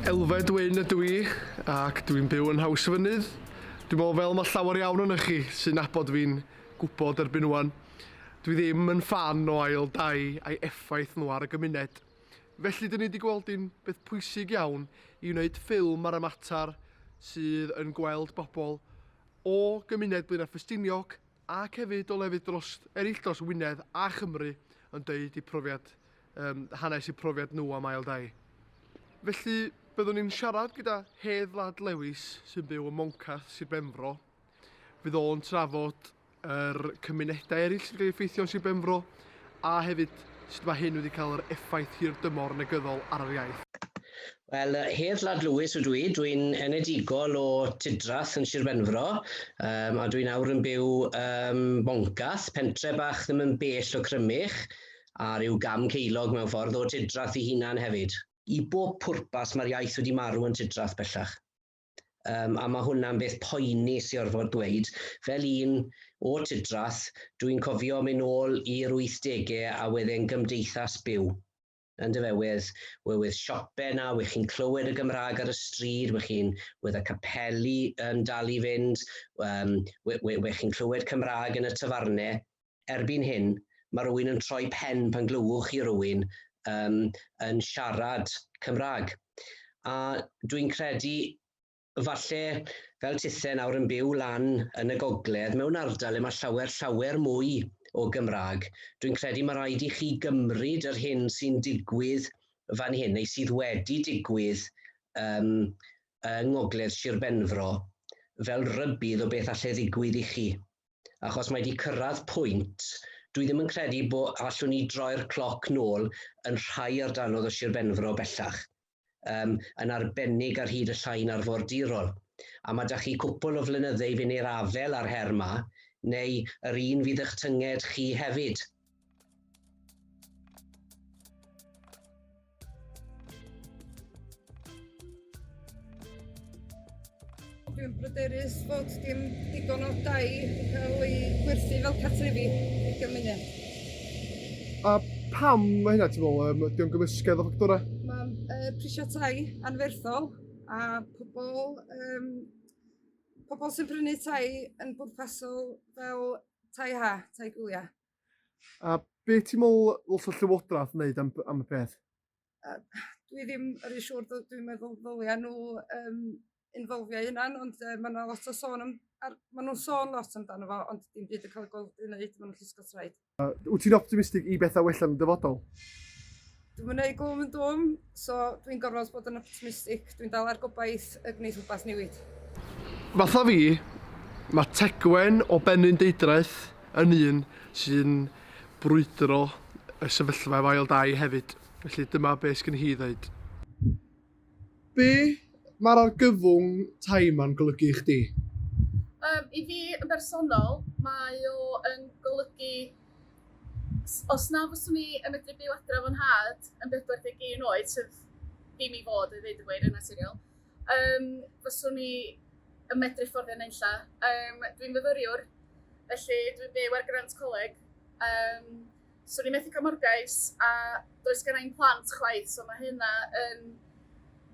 Elfed Wyn ydw i, ac dwi'n byw yn Haws y Fynydd. Dwi'n meddwl fel mae llawer iawn yn chi sy'n nabod fi'n gwybod erbyn wan. Dwi ddim yn fan o ail dai a'i effaith nhw ar y gymuned. Felly dyn ni wedi gweld un beth pwysig iawn i wneud ffilm ar y mater sydd yn gweld bobl o gymuned Blaenau Ffestiniog ac hefyd o lefydd dros eraill dros Wynedd a Chymru yn deud eu profiad, um, hanes eu profiad nhw am ail dai. Felly, byddwn ni'n siarad gyda Hedd Lad Lewis sy'n byw ym Moncath, Sir Benfro. Fydd o'n trafod yr er cymunedau eraill sy'n cael effeithio yn Sir Benfro a hefyd sut mae hyn wedi cael yr effaith hir dymor negyddol ar yr iaith. Wel, Hedd Lad Lewis ydw i, dwi'n enedigol o Tudrath yn Sir Benfro, um, a dwi'n awr yn byw um, Boncath, pentre bach ddim yn bell o Crymych, a rhyw gam ceilog mewn ffordd o Tudrath i hunan hefyd. I bob pwrpas mae'r iaith wedi marw yn Tudrath bellach. Um, a mae hwnna'n beth poeni sy'n orfod dweud. Fel un o Tudrath, dwi'n cofio mynd ôl i'r 80au a wedyn gymdeithas byw. Yn do fe with we're with siope na wych chi'n clywed y Gymraeg ar y stryd wych chi'n with a capeli yn dal i fynd um, we, we, we chi'n clywed Cymraeg yn y tafarne erbyn hyn mae rhywun yn troi pen pan glywwch chi rhywun um, yn siarad Cymraeg a dwi'n credu Falle, fel tithe nawr yn byw lan yn y gogledd, mewn ardal le mae llawer, llawer mwy o Gymraeg, dwi'n credu mae rhaid i chi gymryd yr hyn sy'n digwydd fan hyn, neu sydd wedi digwydd um, yng ngogledd Sir Benfro, fel rybudd o beth allai ddigwydd i chi. Achos mae wedi cyrraedd pwynt, dwi ddim yn credu bod allwn ni droi'r cloc nôl yn rhai ardalodd o Sir Benfro bellach. um, yn arbennig ar hyd y llain arfordirol. A mae da chi cwpl o flynydde i fynd i'r afel ar her ma, neu yr un fydd eich tynged chi hefyd. Dwi'n bryderus fod dim digon o dai wedi cael ei gwerthu fel cartrefi i'r gymuned. A pam mae hynna, ti'n meddwl? Um, Ydy o'n gymysgedd o ffactorau? Mae uh, prisiau tai anferthol a pobl, um, pobl sy'n prynu tai yn bwrpasol fel tai ha, tai gwyliau. A be ti'n meddwl ddylse llywodraeth wneud am, am y peth? yy dwi ddim yn rhy siŵr dw- dwi'n meddwl ddylia nhw yym involfio'u hunan ond yy ma' 'na lot o sôn am ar... Ma' nhw'n sôn lot amdano fo ond dim byd yn ca'l ei gweld i neud ma' nhw'n llusgo traed. A wyt ti'n optimistig i bethau wella yn y dyfodol? Dwi'm yn neud gwm yn dwm so dwi'n gorfod bod yn optimistic dwi'n dal ar gobaith y gneith rwbath newid. Fatha fi, ma' Tegwen o Benrhyn Deudraeth yn un sy'n brwydro y sefyllfa efo ail dai hefyd, felly dyma be sgen hi i ddeud. Be mae'r argyfwng tai yma'n golygu i chdi? Yym, i fi yn bersonol, mae o yn golygu s- os na fyswn i yn medru byw adre efo nhad yn 41 oed, sef dim i fod i ddeud y gwir yn naturiol, Yym, fyswn i yn medru fforddio nunlla. Yym, dwi'n fyfyriwr, felly dwi'n byw ar grant coleg. Yym, swn i'n methu cael morgais a does gen i'n plant chwaith, so mae hynna yn,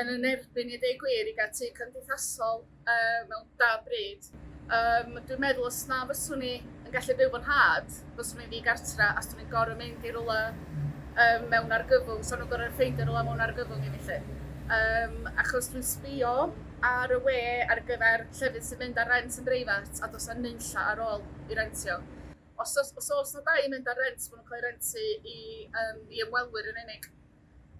yn yn erbyn i ddeud gwir i gael tu cymdeithasol uh, mewn da bryd. Um, dwi'n meddwl os na fyswn ni yn gallu byw fy nhad, fyswn ni'n ddigartra a swn ni'n gorau mynd i rola um, mewn argyfwng, so nhw'n gorau ffeindio rola mewn argyfwng i mi lle. Um, achos dwi'n sbio ar y we ar gyfer llefydd sy'n mynd ar rent yn breifat a dos am nynlla ar ôl i rentio. Os os os os na dau yn mynd ar rent, maen nhw'n cael ei rentu i, um, i ymwelwyr yn unig.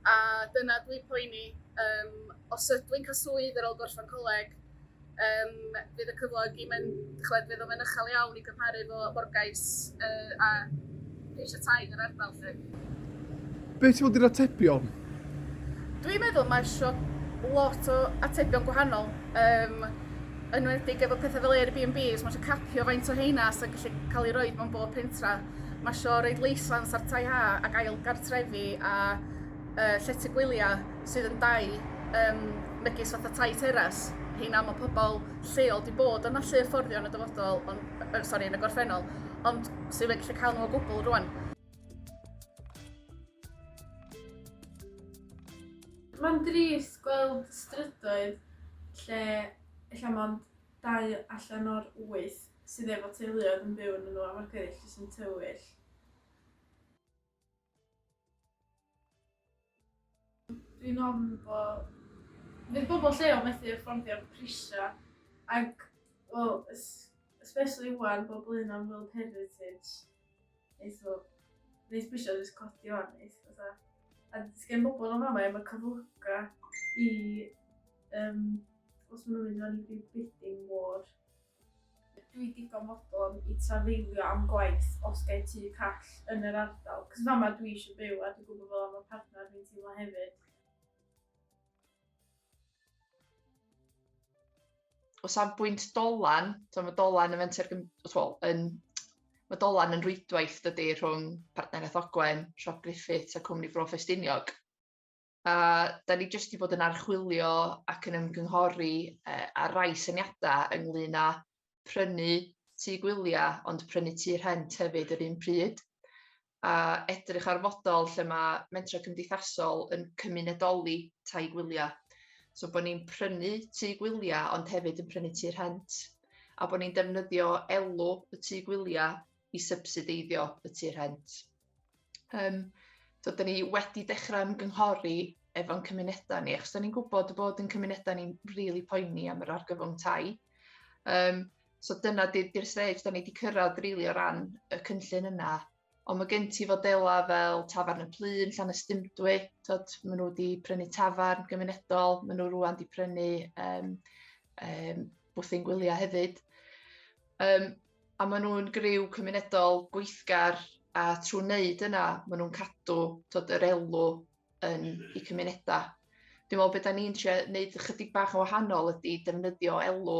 a dyna dwi'n poeni yym os ydw i'n cael swydd ar ôl gorffen coleg yym fydd y cyflog i mynd, chwed, fydd o'n mynd uchel iawn i gymharu fo Morgais uh, a eisiau tai yn yr ardal lle. Be ti'n fod i'r atebion? Dwi'n meddwl mae eisiau lot o atebion gwahanol. Um, enwedig efo pethau fel Airbnb, os mae eisiau capio faint o heina sy'n gallu cael ei roi mewn bob pentra. Mae isio rhaid leisans ar tai ha ac ail gartrefi a uh, llety gwyliau sydd yn dau um, megis fatha tai teras. Heina mae pobl lleol di bod yn allu fforddio yn y dyfodol, on, er, sorry, yn y gorffennol, ond sydd wedi cael nhw o gwbl rwan. Mae'n drist gweld strydoedd lle lle mae'n dau allan o'r wyth sydd efo teuluoedd yn byw yn y nhw a ma'r gweddill jyst yn tywyll. Dwi'n ofn bo... Fydd bobl lleol methu affordio prisiau ac, wel, especially wan, bobl un am World Heritage, neith o, neith bwysio jyst codi o'n neith, fatha. A gen bobl o'n fama efo cyflyga i, um, os maen nhw'n mynd o'n i bidding war, Dwi digon fodlon i trafeilio am gwaith os gai tŷ call yn yr ardal, cos fama dwi eisiau byw a dwi'n gwybod fel yma partner fi'n teimlo hefyd. O safbwynt dolan, so mae dolan yn fenter, well, yn, mae dolan yn rwydwaith dydy rhwng Partneriaeth Ogwen, Siop Griffiths a Cwmni Bro Ffestiniog. A da ni jyst wedi bod yn archwilio ac yn ymgynghori uh, ar rai syniadau ynglyn â prynu tu gwyliau ond prynu tu rhent hefyd yr un pryd a edrych ar fodol lle mae mentrau cymdeithasol yn cymunedoli tai gwyliau. So bod ni'n prynu tu gwyliau ond hefyd yn prynu tu rhent a bod ni'n defnyddio elw y tu gwyliau i sybsideiddio y tu rhent. Um, so, da ni wedi dechrau ymgynghori efo'n cymunedau ni, achos da ni'n gwybod y bod yn cymunedau ni'n rili really poeni am yr argyfwng tai. Um, so dyna di'r stage da ni wedi cyrraedd rili really o ran y cynllun yna. Ond mae gen ti fodelau fel Tafarn y Plyn, Llan y Stymdwy, tod, maen nhw wedi prynu tafarn gymunedol, maen nhw rwan wedi prynu um, um, bwthyn gwyliau hefyd. Um, A maen nhw'n griw cymunedol gweithgar a trwy wneud yna, maen nhw'n cadw tod, yr elw yn eu cymunedau. Dwi'n meddwl beth da ni'n trio wneud ychydig bach o wahanol ydy defnyddio elw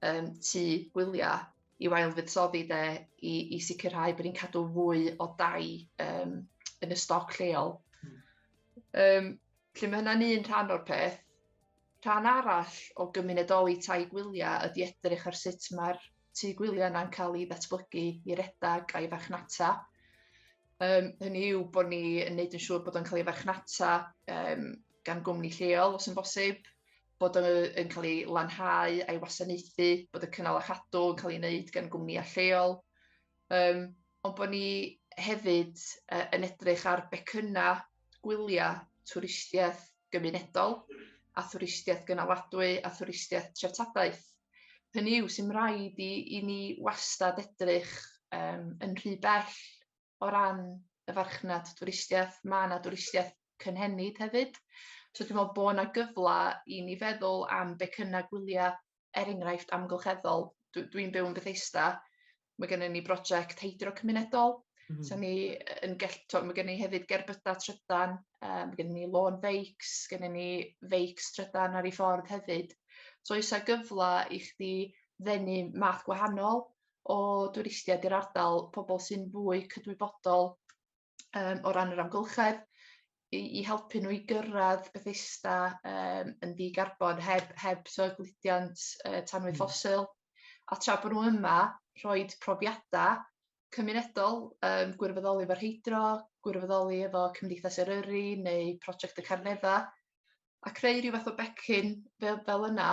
um, tu gwyliau i wael fuddsoddi de, i, i sicrhau bod ni'n cadw fwy o dai um, yn y stoc lleol. Um, Felly mae hynna'n un rhan o'r peth. Rhan arall o gymunedoli tai gwyliau ydy edrych ar sut mae'r tu gwyliau yna'n cael ei ddatblygu i redag a'i farchnata. Um, hynny yw bod ni yn neud yn siŵr bod o'n cael ei farchnata um, gan gwmni lleol os yn bosib, bod o'n yn cael ei lanhau a'i wasanaethu, bod y cynnal a chadw yn cael ei wneud gan gwmni lleol. Yym, ond bod ni hefyd uh, yn edrych ar becynnau gwyliau twristiaeth gymunedol a thwristiaeth gynaladwy a thwristiaeth treftadaeth. Hynny yw sy'n rhaid i, i ni wastad edrych um, yn rhy bell o ran y farchnad twristiaeth. Mae yna twristiaeth cynhenid hefyd. So dwi'n meddwl bod yna gyfle i ni feddwl am becynnau gwyliau er enghraifft amgylcheddol, dw dwi'n byw yn Bethesda, mae gennym ni brosiect heidro cymunedol, mm -hmm. so ni yn gell, mae gennym ni hefyd gerbydau trydan, um, mae gennym ni lawn feics, gennym ni feics trydan ar ei ffordd hefyd. So oes gyfle i chdi ddenu math gwahanol o dwristiaid i'r ardal, pobl sy'n fwy cydwybodol um, o ran yr amgylchedd, i, i helpu nhw i gyrraedd Bethesda um, yn ddi-garbon heb, heb so gludiant uh, tanwy mm. ffosil. A tra bod nhw yma, rhoi profiadau cymunedol, um, gwirfoddoli efo rheidro, gwirfoddoli efo Cymdeithas Eryri neu Prosiect y Carnedda, a creu rhyw fath o becyn fel, fel yna,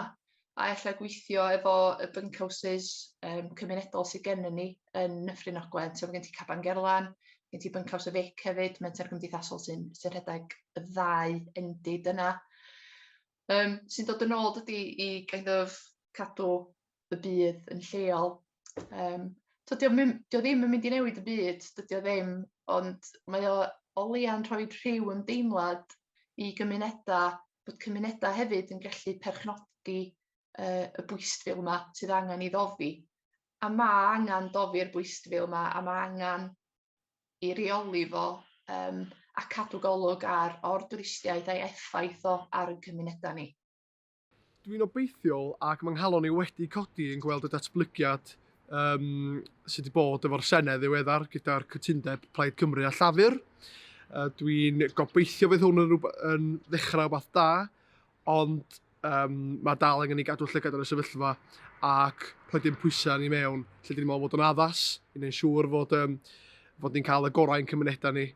a ella gweithio efo y bunkhouses um, cymunedol sydd gennym ni yn Nyffryn Ogwen. So mae gen ti Caban Gerlan, gen ti Bunkhouse y Fic hefyd, menter gymdeithasol sy'n sy rhedeg y ddau endid yna. Um, sy'n dod yn ôl dydy i kind of cadw y byd yn lleol. Yym so 'di o'm yn... 'di o ddim yn mynd i newid y byd, dydi o ddim, ond mae o o leia'n rhoi rhyw ymdeimlad i gymunedau, bod cymunedau hefyd yn gallu perchnogi yy y bwystfil 'ma sydd angen ei ddofi. A ma' angan dofi'r bwystfil 'ma a ma' angan ei reoli fo yym a cadw golwg ar o'r dwristiaid a'i effaith o ar ein cymunedau ni. Dwi'n obeithiol ac mae nghalon i wedi codi yn gweld y datblygiad um, sydd wedi bod efo'r Senedd ddiweddar gyda'r cytundeb Plaid Cymru a Llafur. Uh, Dwi'n gobeithio fydd hwn yn, yn ddechrau o beth da, ond um, mae dal angen i gadw llygad ar y sefyllfa ac rhoi'n pwysau ni mewn lle dwi'n meddwl bod yn addas i wneud siŵr fod, um, fod ni'n cael y gorau yn cymunedau ni.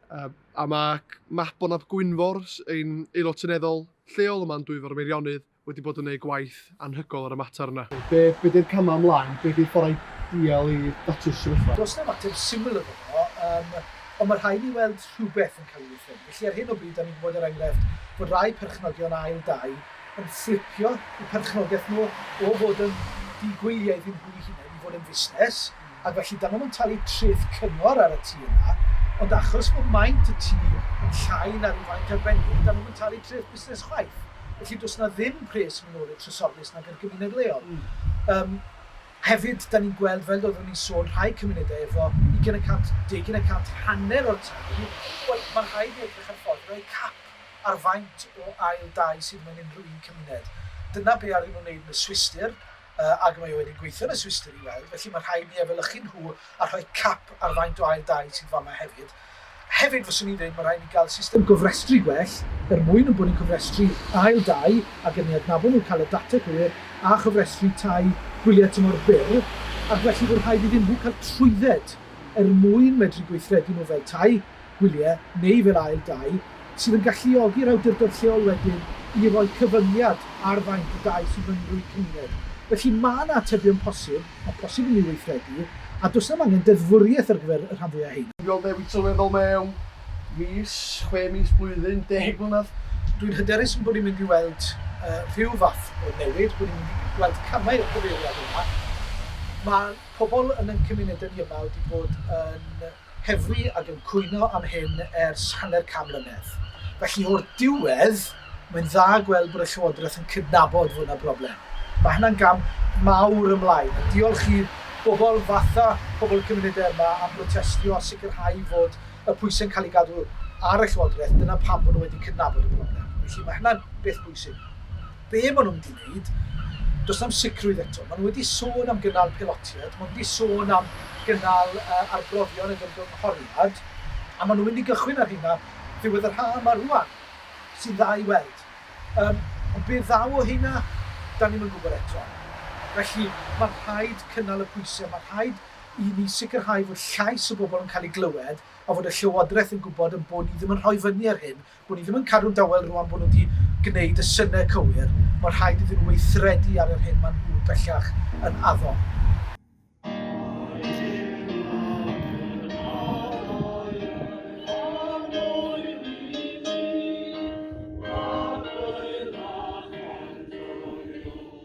Uh, a mae Mabon ap Gwynfor, ein aelod seneddol lleol yma'n Dwyfor Meirionnydd, wedi bod yn ei gwaith anhygol ar y mater yna. Be, be di'r camau ymlaen? Be di'r fforau dial i datu'r sefyllfa? Does na mater syml yn yno, um, ond mae rhaid ni weld rhywbeth yn cael ei wrthyn. Felly ar hyn o bryd, da ni'n gwybod yr er enghraifft bod rai perchnogion ail dau yn fflipio y perchnogaeth nhw o fod yn digwyliaeth yn hwy'n hunain i fod yn fusnes, ac felly dan nhw'm yn talu treth cyngor ar y tŷ yna, ond achos bod maint y tŷ yn llai na ryw faint arbennig, dan nhw'm yn talu treth busnes chwaith. Felly does na ddim pres minorig trysorlys nag i'r gymuned leol. Yym, hefyd, dan ni'n gweld, fel doeddwn i'n sôn, rhai cymunedau efo ugain y cant, deugain y cant, hanner o'r tai, wel, mae'n rhaid i ni edrych ar ffordd i roi cap ar faint o ail dai sydd mewn unrhyw un cymuned. Dyna be' aru nhw wneud yn y Swistir, yy ag y mae o wedi gweithio yn y Swistir i weld, felly mae rhaid ni efelychu nhw a rhoi cap ar faint o ail dai sydd fama hefyd. Hefyd fyswn i'n dweud mae rhaid ni gael system gofrestru gwell er mwyn ein bod ni'n cofrestru ail dai ac yn ei adnabod nhw, cael y data cywir a chofrestru tai gwyliau tymor byr ac felly bod rhaid iddyn nhw cael trwydded er mwyn medru gweithredu nhw fel tai gwyliau neu fel ail dai, sydd yn galluogi'r awdurdod lleol wedyn i roi cyfyngiad ar faint o dai sydd mewn rhyw cymuned. Felly, mae yna atebion posib, a phosib yn ei weithredu, a does na'm angen deddfwriaeth ar gyfer y rhan fwyaf o rheiny. Dwi am newid sylweddol mewn mis, chwe mis, blwyddyn, deg mlynedd. Dwi'n hyderus ein bod ni'n mynd i weld rhyw fath o newid, bod ni'n mynd i weld camau i'r cyfeiriad yna. Mae pobl yn ein cymunedau ni yma wedi bod yn Heddlu ac yn cwyno am hyn ers hanner can mlynedd. Felly, o'r diwedd, mae'n dda gweld bod y Llywodraeth yn cydnabod fod 'na broblem. Mae hynna'n gam mawr ymlaen, a diolch i bobl fatha pobl y cymunedau yma am brotestio a sicrhau fod y pwysau'n cael eu cadw ar y Llywodraeth, dyna pam bod nhw wedi cydnabod y broblem. Felly, mae hynna'n beth bwysig. be maen nhw'n mynd i wneud, does na'm sicrwydd eto. Maen nhw wedi sôn am gynnal pelotiaid, maen nhw wedi sôn am gynnal uh, arbrofion yn ymgynghoriad, a maen nhw'n mynd i gychwyn ar hynna ddiwedd yr haf yma rwan, sy'n dda i weld. Um, ond be ddaw o hynna, da ni'n mynd gwybod eto. Felly, mae'n rhaid cynnal y pwysau, mae'n rhaid i ni sicrhau fod llais y bobl yn cael ei glywed a fod y Llywodraeth yn gwybod yn bod ni ddim yn rhoi fyny ar hyn Bo' ni ddim yn cadw'n dawel rŵan bo' nhw wedi gwneud y synnau cywir, ma' rhaid iddyn nhw weithredu ar yr hyn ma' nhw bellach yn addo.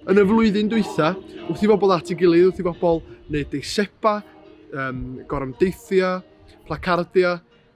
Yn y flwyddyn dwytha, wrth i bobl at ei gilydd, wrth i bobl wneud deiseba, um, gorymdeithia, placardia,